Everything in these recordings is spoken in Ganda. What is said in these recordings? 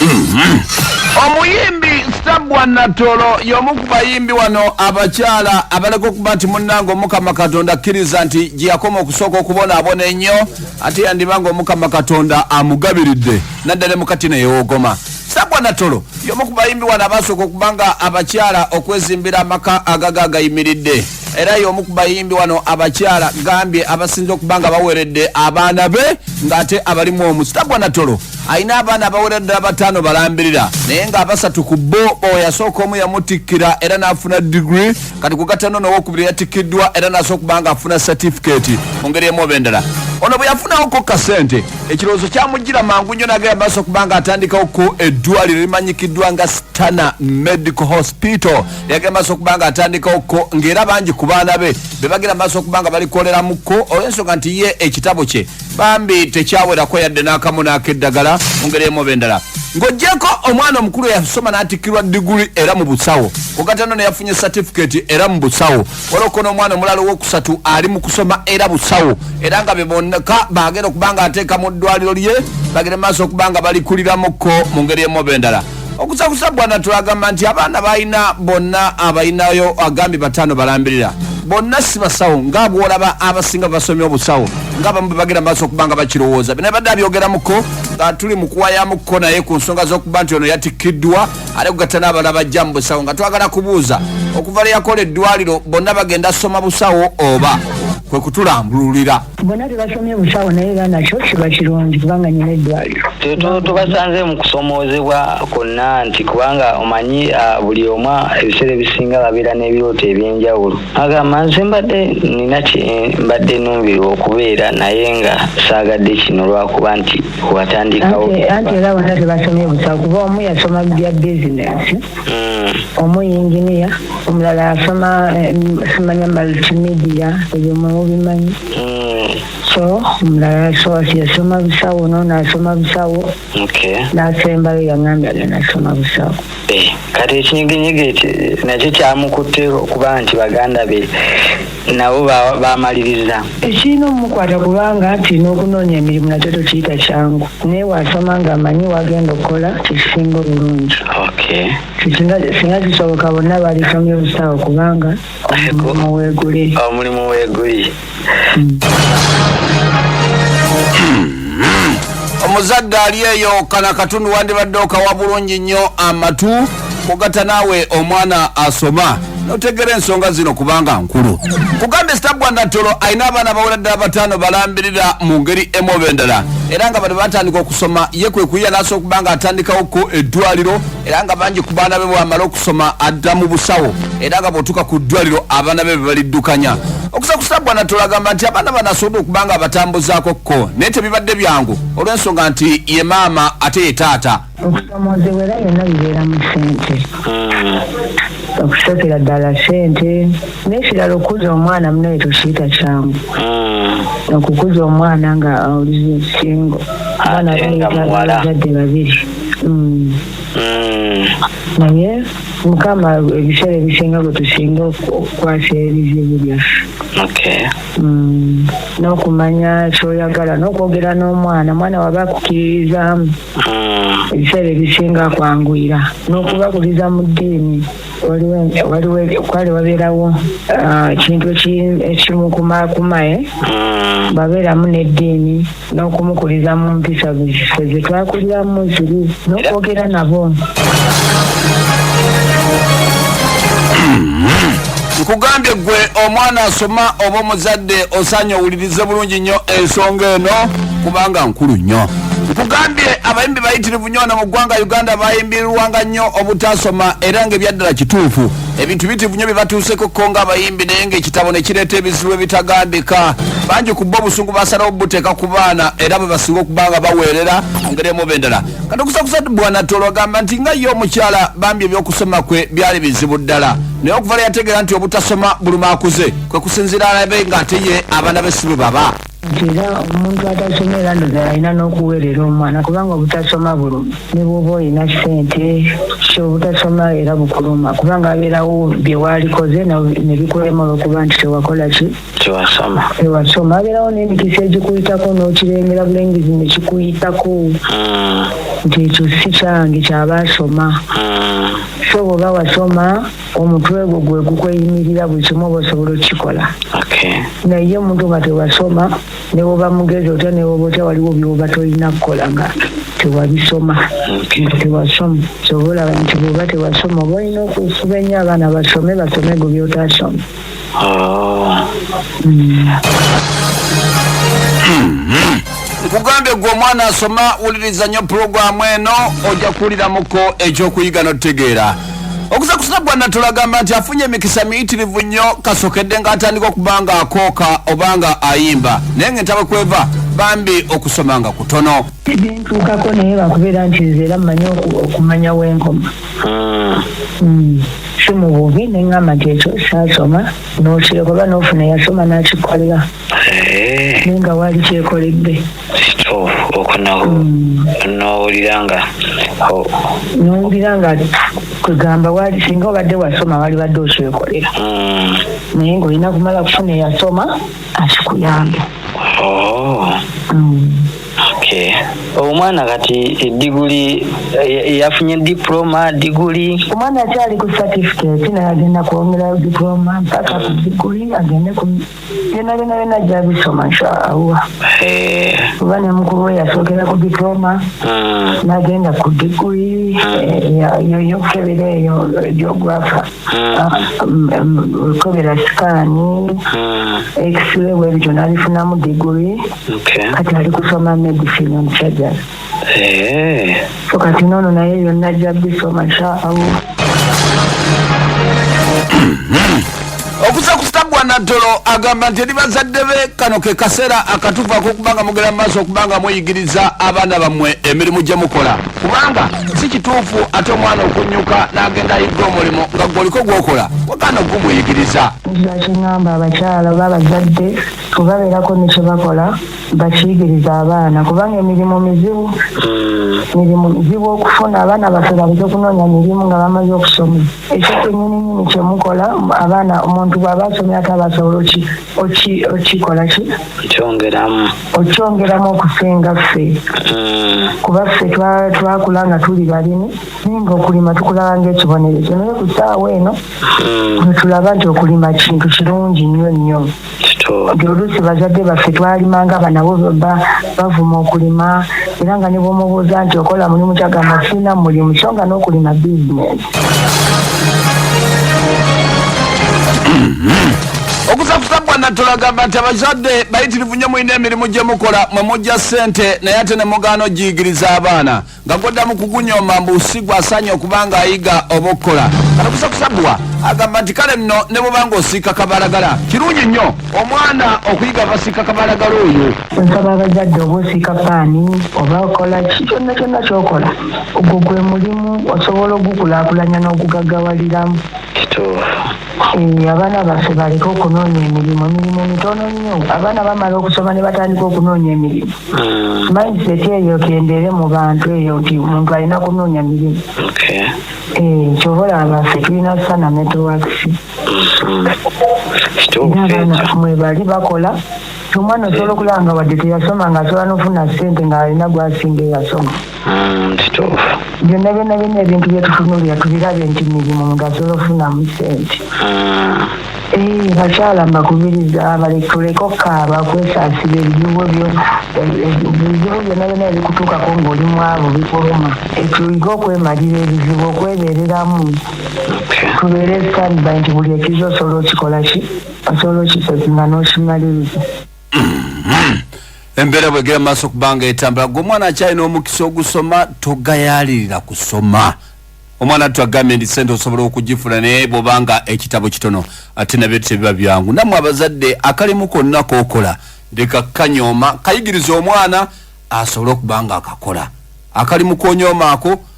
Mm-hmm. omuyimbi sabwa natolo y'omu ku bayimbi wano abakyala abaleka okuba nti munnanga omukama katonda akkiriza nti gye yakoma okusooka okubonaabona ennyo ate yandiba nga omukama katonda amugabiridde naddala mukati neyewogoma sabwa natolo y'omu ku bayimbi wano abasooka okuba nga abakyala okwezimbira amaka agaga agayimiridde era y'omu ku bayimbi wano abakyala gambye abasinza okuba nga baweredde abaana be ng'ate abalimu omu sitagwa natolo alina abaana abawera ddala bataano balambirira naye ng'abasatu ku bo oyasooka omu yamutikkira era n'afuna digiri kati kugatano nowokubiri yatikkiddwa era nasobola okuba nga afuna satifikeeti mu ngeri emu oba endala ono bwe yafunawoko kasente ekirowoozo kyamujjira mangu nnyo nagera maaso okuba nga atandikawo ku eddwaliro limanyikiddwa nga stana medical hospital yagenda maaso okuba nga atandikawo ko ng'era bangi ku baana be be bagenda maaso okuba nga balikoleramu ko olw'ensonga nti ye ekitabo kye bambi tekyawerako yadde n'akamu n'akeddagala mu ngeri emu oba endala ng'ogyeko omwana omukulu yasoma n'atikkirwa diguli era mu busawo kugatano ne yafunye satifiketi era mu busawo waloko n'omwana omulala ow'okusatu ali mu kusoma era busawo era nga be bonneka bagenda okuba nga ateeka mu ddwaliro lye bagenda maaso okuba nga balikuliramuko mu ngeri emu oba endala okusakusa bwana tulagamba nti abaana balina bonna abalinayo agambye bataano balambirira bonna si basawo nga bwolaba abasinga basomye obusawo nga bamu bebagenda maaso okuba nga bakirowooza bina badde abyogeramuko nga tuli mukuwayamuko naye ku nsonga z'okuba nti ono yatikkiddwa ate kugatta n'abala bajja mu busawo nga twagala kubuuza okuva lwe yakola eddwaliro bonna bagenda soma busawo oba kwe kutulambululira bona tebasomye busawo naye era nakyo kiba kirungi kubanga nyina eddwaliro tubasanze mu kusomoozebwa kwonna nti kubanga omanyi buli omu ebiseera ebisinga babeera n'ebirooto eby'enjawulo agamba nze mbadde nina mbadde numbirwa okubeera naye nga saagadde kino lwakuba nti watandikawo anti era bona tebasomye busawo kuba omu yasoma bya bizinesi mm. omu yinginiya omulala asoma eh, simanya multimedia ebyo mwemubimanyi mm. so omulala soasi yasoma busawo nono asoma busawo nasembayo yangambye agenda asoma busawo eh, kati ekinyiginyiga ekyo nakyo kyamukutte okuba nti baganda be nabo bamaliriza ekirina omukwata kubanga nti n'okunoonya emirimu nakyo tokiyita kyangu naye wasoma nga amanyi wagenda okukola kyekisinga obulungi singa kisoboka bonna balisomye obusawo kubanga omulimu weguli omulimu weguli hmm. omuzadde ali eyo kana katundu wandibadde okawa bulungi nnyo amatu kugata naawe omwana asoma notegera ensonga zino kubanga nkulu kugambye sitabwa natolo alina abaana bawera ddala bataano balambirira mu ngeri emu oba endala era nga bano batandika okusoma ye kwe kuyiya nasobola okuba nga atandikawoko eddwaliro era nga bangi ku baana be bwamala okusoma adda mu busawo era nga bwotuuka ku ddwaliro abaana be bebaliddukanya okusa ku sitabwa natolo agamba nti abaana bano asobodde okuba nga abatambuzaako kko naye tebibadde byangu olw'ensonga nti ye maama ate ye taata okusomoozebwera yonna bibeera mu sente hmm. okusookera ddala sente nekirala okukuza omwana munaye tukiyita kyangu hmm. okukuza omwana nga olize singo abaana baeazadde babiri hmm. naye mukama ebiseera ebisinga bwe tusinga okukwasa ebizibu byaffe n'okumanya kyoyagala n'okwogera n'omwana omwana waba akukiririzaamu ah. ebiseera ebisinga kwanguyira n'okubakuliza mu ddiini kwali wabeerawo ah, ekintu ekimukuma-kumae ah. babeeramu n'eddiini n'okumukuliza mu mpisa ziffe ze twakuliramu ziri n'okwogera nabo nkugambye gwe omwana asoma oba omuzadde osaanye owulirize bulungi nnyo ensonga eno kubanga nkulu nnyo nkugambye abayimbi bayitirivu nyo wano mu ggwanga uganda bayimbirirwanga nnyo obutasoma era nga ebyaddala kituufu ebintu bitivu nyo byebatuuseko ko nga abayimbi naye nga ekitabo nekireeta ebizibu ebitagambika bangi ku bo obusungu basalawo bubuteeka ku baana era bwe basinga okuba nga baweerera ngeri emuba endala kati okusakusa bwanatolo agamba nti nga ye omukyala bambi ebyokusoma kwe byali bizibu ddala naye okuva lwe yategeera nti obutasoma buluma akuze kwe kusinziira alabe ng'ate ye abaana be si bwe baba nti era omuntu atasoma era ndoza alina n'okuweerera omwana kubanga obutasoma buluma ne bwoba olina ssente so obutasoma era bukuluma kubanga abeerawo bye waalikoze ne bikulema olwokuba nti tewakola ki tewasoma tewasoma abeerawo n'emikisa egikuyitako n'okirengera bulengezi ne kikuyitako hmm. nti ekyo si kyange kyabaasoma hmm. so bwoba wasoma omutwe gwo gwe gukweyimirira buli kimu oba osobola okukikola naye omuntu nga tewasoma newoba mugezi otya newoba otya waliwo byoba tolina kukola nga tewabisoma nga tewasoma kyoba olaba nti bwoba tewasoma oba olina okufuba ennyo abaana basome basome gwe byotasoma Oh. nkugambye gwe omwana asoma wuliriza nnyo pulogulaamu eno ojja kuwuliramuko ekyokuyiga n'otutegeera okuza kusina gwanna tulagamba nti afunye emikisa miyitirivu nnyo kasokedde ng'atandika okuba nga akooka oba nga ayimba naye ng'entabwe kweva bambi okusoma nga kutono bintuukako naye lwakubeera nti nze era mmanyi oku- okumanya wenkoma ah. hmm. si mu bubi ne ŋŋamba nti ekyo saasoma n'okireka oba n'ofuna eyasoma n'akikolera eh. naye nga waali kyekoledde oko nowulira hmm. nga nowulira nga kwegamba wali singa obadde wasoma wali badde okyekolera hmm. naye ngaolina kumala kufuna eyasoma akikuyambe oh. mm. okay. omwana kati ediguli eh, yafunye diploma diguli omwana akyali ku certificate naye agenda kwongerayo diploma mpaka ku mm. diguli agende ku byona byona byona jabisoma nshaallah eh. kuba ne mukulu we yasookera ku diploma mm. nagenda ku diguli mm. eh, yoyokukebera eyo geografa okukebera mm. ah, sikaani mm. x-ray bwebityo nabifunamu diguri kati ali kusoma medicine omusajja eh. so kati nono naye yonna ajja bisoma sha allah okusakustagwa naddolo agamba nti eri bazadde be kano ke kaseera akatuufu akokubanga mugera mu maaso okubanga muyigiriza abaana bammwe emirimu gye mukola kubanga si kituufu ate omwana okunnyuka n'agenda ayigga omulimu nga gwoliko gwokola wagaana okumuyigiriza nkiba kingamba abakyala oba abazadde webabeerako nekyebakola bakiyigiriza abaana kubanga emirimu mizibu mirimu mizibu okufuna abaana baffe baleke kunoonya mirimu nga bamaze okusoma ekyo kyenyininyini kyemukola abaana omuntu bwaba asomye ate abasobola oki okikola ki okyongeramu okyongeramu okusinga ffe mm. kuba ffe twakula nga tuli balimi naye nga okulima tukulaba ngaekibonerezo naye ku saawa eno mm. wetulaba nti okulima kintu kirungi nnyo nnyo nti oluusi bazadde baffe twalima nga banabo bavuma okulima era nga ne bwomubuuza nti okola mulimu kyagamba sirina mulimu so nga n'okulima bizinesi okusakusa bwana tulagamba nti abazadde bayitirivu nnyo mulina emirimu gye mukola mwe mujja ssente naye ate ne mugaana ogiyigiriza abaana nga gwaddamu kugunyoma mbu si gwasaanye okuba nga ayiga oba okukola kano kusakusa bwa agamba nti kale nno ne bubanga osiika kabalagala kirungi nnyo omwana okuyiga abasiika kabalagala oyo nsaba abazadde oba osiika paani oba okola ki kyonna kyonna kyokola ogwo gwe mulimu osobola ogukulaakulanya n'ogugaggawaliramu eh, abaana baffe baleke okunoonya emirimu emirimu mitono nnyo abaana bamala okusoma ne batandika okunoonya emirimu hmm. mindset eyo kendeere mu bantu eyo nti omuntu alina kunoonya mirimu eh, kyobola abaffe tulina sana networks abaana mwebali bakola omwana osobola okulaba nga wadde teyasoma nga asobola nofuna sente nga alina gwasinga eyasoma mm, kituufu byonna byonna byonna ebintu byetufunulira tubirabe nti mirimu nga asobola ofunamu sente mm. eh, bakyala mbakubiriza balekutuleka okukaaba kwesasira ebizibu byo ebizibu byonna byonna ebikutuukako ngaoli mwavu bikuluma etuige okwemalira ebizibu okwebereramu tubeere standby nti buli ekiza osobola okikola ki osobola okitekinga n'okimaliriza embeera bwegera maaso kubanga etambula gwe omwana akyalina omukisa ogusoma togayalirira kusoma omwana tu agambye nti sente osobola okugifuna naye bwobanga ekitabo kitono ate nabyo tebiba byangu namwe abazadde akalimu konna kokola leka kanyoma kayigiriza omwana asobole okuba nga akakola akalimu konyomaako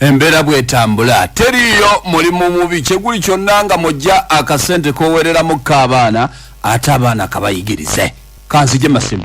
embeera bwetambula teriiyo mulimu mubi kyeguli kyonna nga mujja akasente kowereramu kaabaana ate abaana kabayigirize kanzije masimu